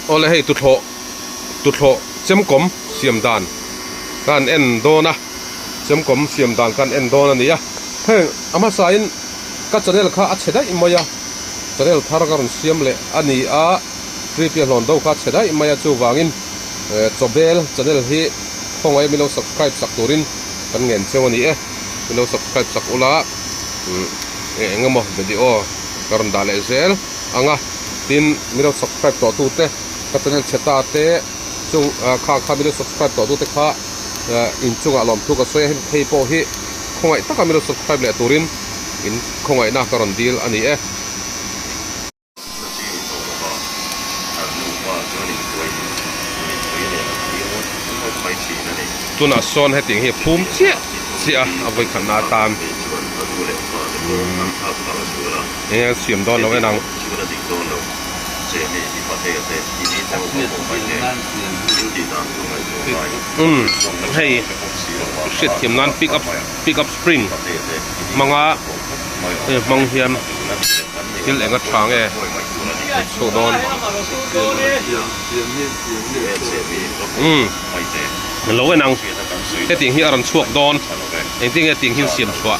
Awle hei tuthloh tuthloh chemkawm siam dan ka han en dawn a, chemkawm siam dan ka han en dawn a ni a, heng a hmasain ka channel kha a chhe daih mai a, channel thar ka rawn siam leh a ni a, free piahlawn do kha a chhe daih mai a, chuvangin chawbel channel hi khawngaih min lo subscribe sak turin kan ngen cheu a ni e, min lo subscribe sak ula umm eng emaw video ka rawn dah leh zel. ang a, tin mido subscribe tawh tu te ka channel chhe ta te chung kha kha mido subscribe tawh tu te kha in chung ah lawmthu ka sawi a hemi phei pawh hi khawngaih taka mido subscribe leh tur in in khawngaih na ka rawn dil a ni e. Tunah sawn heti hi phum chiah chiah a vawi khat na atan umm. eng eng siam dawn lo en ang. Umm hei u hriatthiam nan pick up pick up spring hmang a hei hmang hian thil eng a tha nge kan chhuah dawn umm lo en ang hetiang hi a rawn chhuak dawn engtiang nge tiang hian siam chhuah.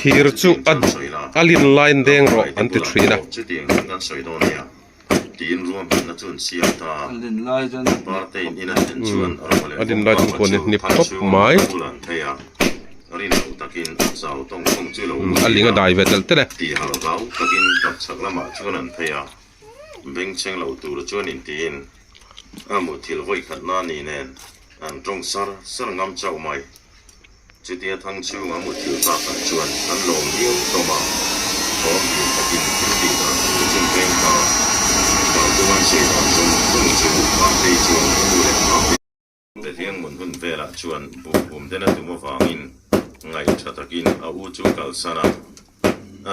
Thir chu a lin line deng rawh an ti thin a. an tawng sar sar ngam chauh mai. Chutia thang chhunga mutthil pa khat chuan an lawm liau hlawm a, awm hlim takin thil tih dah thu ka chin peng kha bang chu an sawi dan zung zung chu Hmangtei chuan ka nu leh Hmangte te hian ngun hun velah chuan bum bum ten a tum avangin ngaih tha takin a u chu kalsan a, a.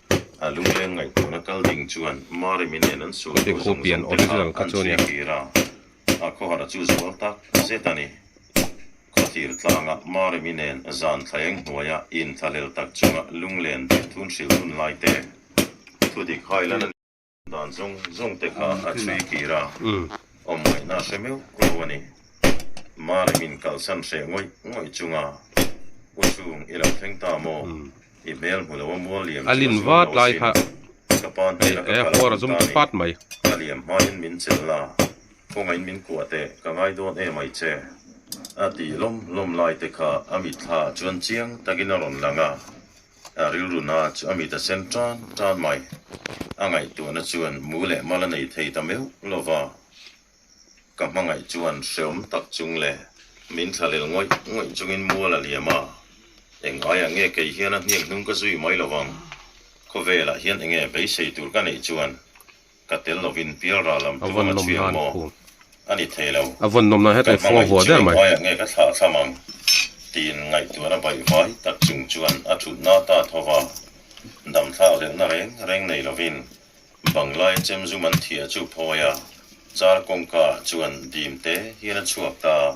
a lungleng ngaihtuahna kal ding chuan Marimi nen an suh thu zawng zawng te kha an chhui kir a, a khawhara chu zual tak zet a ni. Khawthlir tlanga Marimi nen zan thleng hnuaia in thlalel tak chunga lunglen dirthun hrilhnun lai te thu dik hai lan a ni. Dan zawng zawng te kha a chhui kir a, awm ngaih na hre meuh lo a ni. Mari min kalsan hreh ngawih ngawih chunga, U Chung i lo thleng ta maw? I hmel hmu lo a mual liam chu a zuam lo asin. Ka pan hnena ka kal a hmun ta a ni. Ka liam hmaiin min chel la, khawngaihin min kuah teh ka ngai dawn em ai che? A tih lawm lawm lai te kha a mitthlaah chuan chiang takin a rawn lang a. A rilruna chu a mit a sen tan tan mai. A ngaihtuahna chuan mu leh mal a nei thei ta meuh lo va. Ka hmangaih chuan hreawm tak chung le. Min thla lel ngawih ngawih chungin mual a liam a, eng aiah nge kei hian a hniang hnung ka zui mai lovang? Khawvelah hian enge beisei tur ka neih chuan? Ka tel lovin pial ral lam te vanga chhi ang maw? A ni thei lo. A vawn nawmna he tei fo vua der mai. Ka hmangaih chilin hmaiah nge ka thlah thlam ang? Tiin ngaihtuah na baih vai tak chung chuan a thut na ta tho va. Damthlak leh na reng reng nei lovin Banglai chem zum an thiah chu phawi a, char kawngka ah chuan dim te hian a chhuak ta.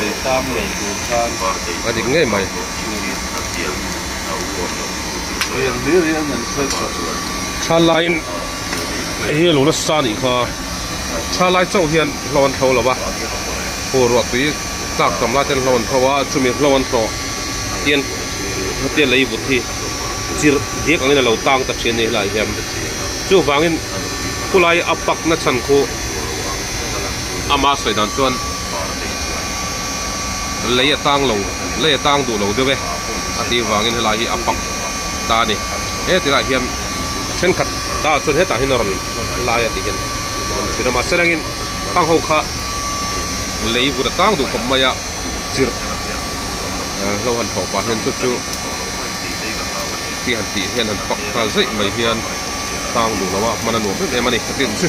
Leitlâng nei tur khan a dik ngei mai. Rian hi rian an nen kher tawh. Thla laiin hi lu nasa a nih kha. Thla lai chauh hian hlo an thlo lo a. Hu ruah tui tlak tam lai ten hlo an thlo a, chumi hlo an hlawh hian hetiang lei vut hi chirh diak angin a lo tâng ta ṭhin a nih hi lai hian. Chuvangin khulai a pakna chhan khu. Ama sawi dan chuan lei a tang lo, lei a tang duh lo deuh e a tih vangin helai hi a pak ta a ni. Heti lah hian thenkhat ta chuan hetah hian a rawn lai a tih hian kan hre a. Mahse rengin hang ho kha lei vut a tang duh khawp mai a, chirh hlo han thlawh pah hian chu chu tih han tih hian han pak nghal zeih mai hian tang duh lo a hman a nuam em em a ni ka tih ang chu.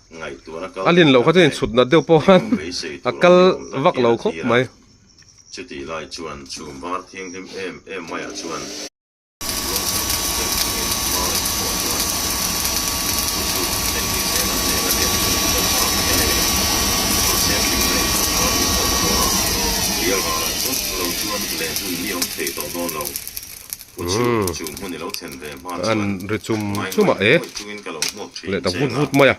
a lin loh kha chuan inchhutna deuh pawh khan a kal vak lo khawp mai. Umm. An ri chum chum a e. Leh ta vut vut mai a.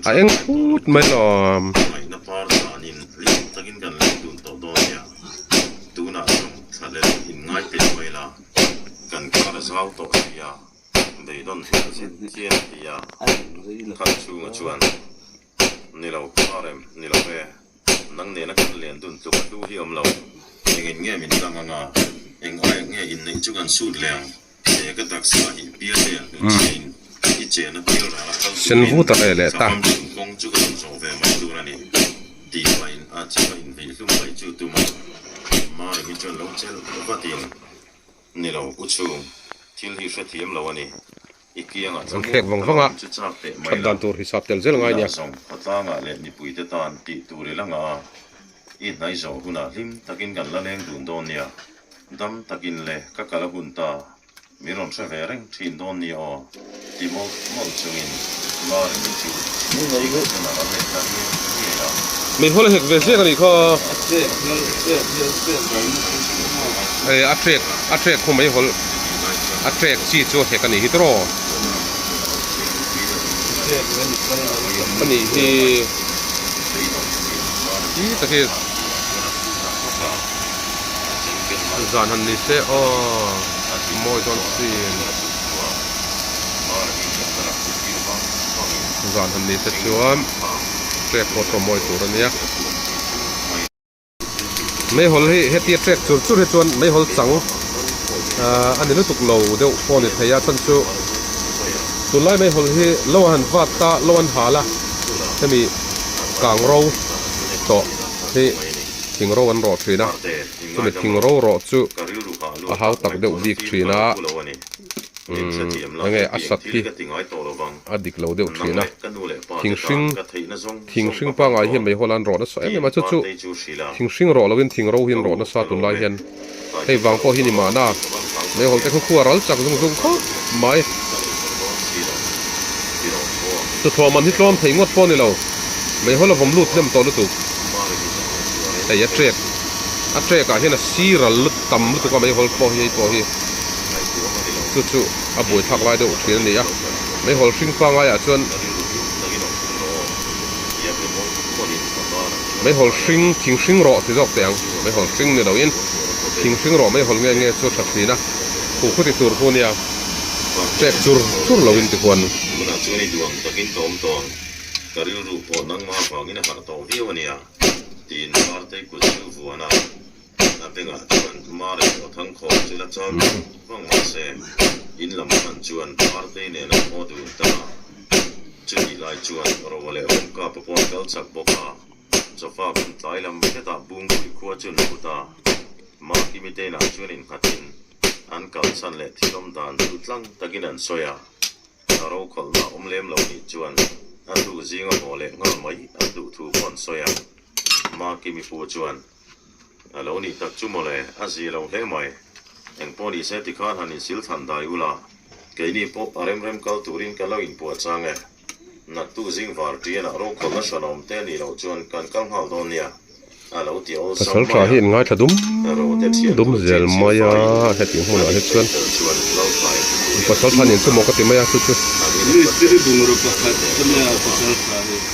A eng phut mai lo a. Ni lo phar em? Ni lo e. Nang nena kan len dun tluk a du hi awm lo. Eng in nge min tlang anga? Eng ai nge inneih chu kan sut le ang? Che ka taksa a nih pial e an hnu chiahin i chen a pial rang a kal tur in sanglam chhun kawng chu ka rawn zawh ve mai tur a ni. Tih pahin a chhim a inveih hlum mai chu tum a. Mari hi chuan lo chel vatin, Ni lo, u chhung, thil hi hre thiam lo a ni. An thlek vang vang a, that dan tur hi sap tel zel ngai nia. Min haw la hek ve ziak a nih kha. Hei a hrek, a hrek khaw mai hawl. a track chi chu a hek a nih hi tawrh a nih hi ih ta hi zan han ni se aw mawi chuan chin zan han ni se chuan track pawh tawh mawi tur a nia. Meihawl hi heti a tlek chur chur hi chuan Meihawl chang a ni lutuk lo deuh pawh a ni thei a, chuan chu tunlai Meihawl hi lo an han vat ta, lo an hal a, hemi kang ro tawh hi thing ro an rawh thin a, chumi thing ro rawh chu a hau tak deuh bik thin a, umm enge a sat hi. A dik lo deuh thin a. Thing hring, thing hring pangai hian mei holan rawh nasa em em a chu chu. Thing hring rawh loin thing ro hian rawh nasa tun lai hian hei vang pawh hi ni mahna a. Meihawl te kha khua ral chak zung zung khawp mai. Chu thlawh man hi tlawm thei ngawt pawh ni lo. Meihawl a vawm lut hnem tawh lutuk. Hei a ṭek, a ṭek ah hian a si ral lut tam lutuk a meihawl pawh hi hei pawh hi chu chu. a buai thlak lai deuh thin a ni a, meihawl hring pangai ah chuan meihawl hring thing hring rawh ti zawk teh ang, meihawl hring ni lo in thing hring rawh meihawl nge nge chu tha thin a khu khuti tur pu nia chek chur chur lo in ti huan a. Tunah chuan i duang takin ka awm tawn, ka rilru pawh nangma vangin a harh tawh viau a nia, tiin Martei kut chu vuan a. Eng a bengah chuan Mari leh Thangkhawm chu la chau lo vang vang mahse in lam hman chuan Party nena haw dun ta a, chutih lai chuan Rowa leh Awmkapa pawh an kal chak bawk a, Sofa pawn tlai lam hetah Bungpui khua chu an put a, Maki miteina chuan innghatin an kalsan leh thilawm dan chu tlang takin an sawi a, ka rokhawlhna a awm lem lo nih chuan a hlu zinga haw leh nghal mai an duh thu pawh an sawi a, Maki mipu chuan. A lo nih tak chu mawle, a zia lo hle mai. Eng pawh ni se tikhan han insil than dai ula, keini pawh a remrem kal turin ka lo inpuahchang e. Nattu zing var tianah rokhawlna hralawm te nih loh chuan kan kal nghal dawn nia, a lo ti awl sang mai a. Pasal tha hi in ngaithla dum dum zel mai a, heti hmunah hi chuan pasal tha nen chu maw ka ti mai a chu chu.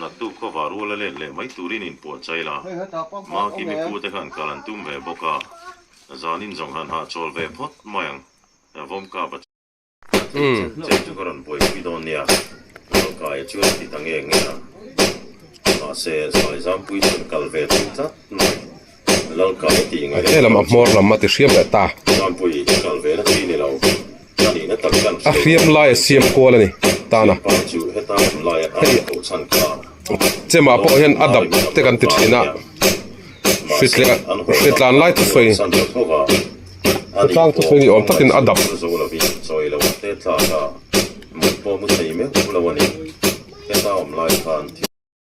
Nattu khawva rual a let leh mai turin in puah chai la. Maki mipu te khan kal an tum ve bawk a, zanin zawng han hah chawl ve phawt mai ang. Vawm kap a. A ti chen chen chu ka rawn buaipui dawn nia, Lalkaia chuan a ti ta nge nge a. Mahse, Saizam pui chuan kal ve thin tlat mai. he lam a hmawr lam a ti hriam leh ta a hriam lai a siam kual a ni tana hei che mah pawh hian a dap te kan ti thin a hri tlek a hri tlan lai thup sawi hri tlang thup sawi ni awm takin a dap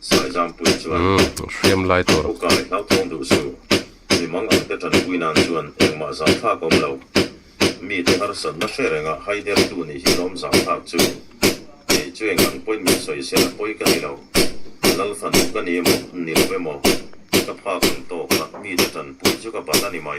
Saizampuii chuan, Umm, hriam lai tur. Awka leh hlauthawng duh su, mimang ang te tanpui nan chuan engmah zah thlak awm lo. Mite harsat mahre renga haidertu nih hi lawm zah thlak chu, Kei chu eng unpointment sawi se la pawi ka ni lo, lal fa duh ka ni emaw, ni lo emaw, ka phak ang tawk a, mite tanpui chu ka bat a ni mai.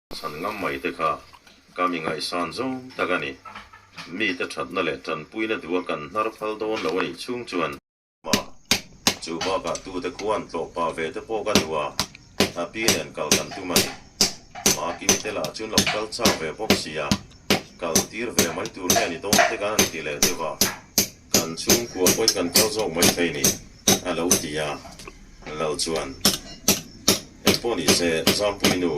Chhan ngam mai te kha kam i ngaihsan zo tak a ni. Mite thatna leh tanpuina duh a kan hnar phal dawn lo a nih chhung chuan. Mah, chu bakah tute khuan tlawh pah ve te pawh ka duh a, a pi nen kal kan tum a ni. Mah kil te lah chuan lo kal chak ve bawk sia, kal tir ve mai tur nge a ni dawn te kan han ti leh deuh a. Kan chhungkua pawn kan kal zawk mai phei ni? a lo ti a. Lal chuan, Eng pawh ni se, Zampuii nu,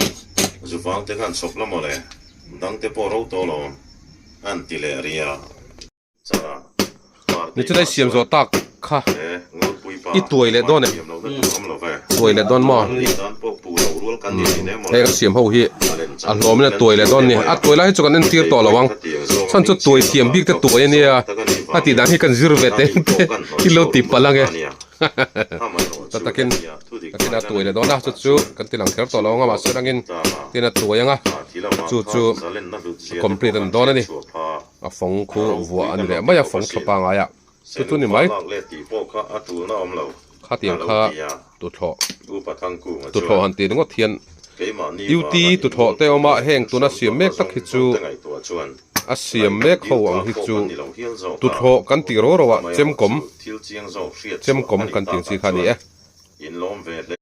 zuvang te khan chhawp la maw le, dang te pawh ro tawh lo, an ti leh ria. Changah, Hmartih pa chuan, He. I tuai leh dawn em? Tuai leh dawn maw? Hei ka siam ho hi a hlawm in a tuai leh dawn ni. A tuai lai hi chu kan entir tawh lo ang. Chuan chu tuai thiam bik te tuai a nia. A tih dan hi kan zir ve teng te i lo ti palh ang e. Tah takin ka tina tuai leh dawn a, chu chu kan ti lang kher tawh lo ang a. Mahse rangin tin a tuai ang a. Chu chu complete a ni dawn a ni. A fawng khu vuah a ni leh mai a, fawng thlapa ngai a. Chu chu ni mai. Khatiang kha tuthlawh tuthlawh han ti ringawt hian duty tuthlawh te awm a heng tuna siam mek tak hi chu a siam mek ho ang hi chu tuthlawh kan tih ro ro a chemkawm chemkawm kan tih ang chi kha a ni e.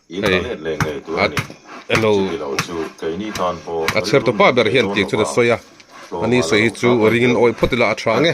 Hei, at eno a chhertu pa ber hian tih chuan a sawi a, a ni sawi hi chu ringin a awih phawt ila a ṭha ang e.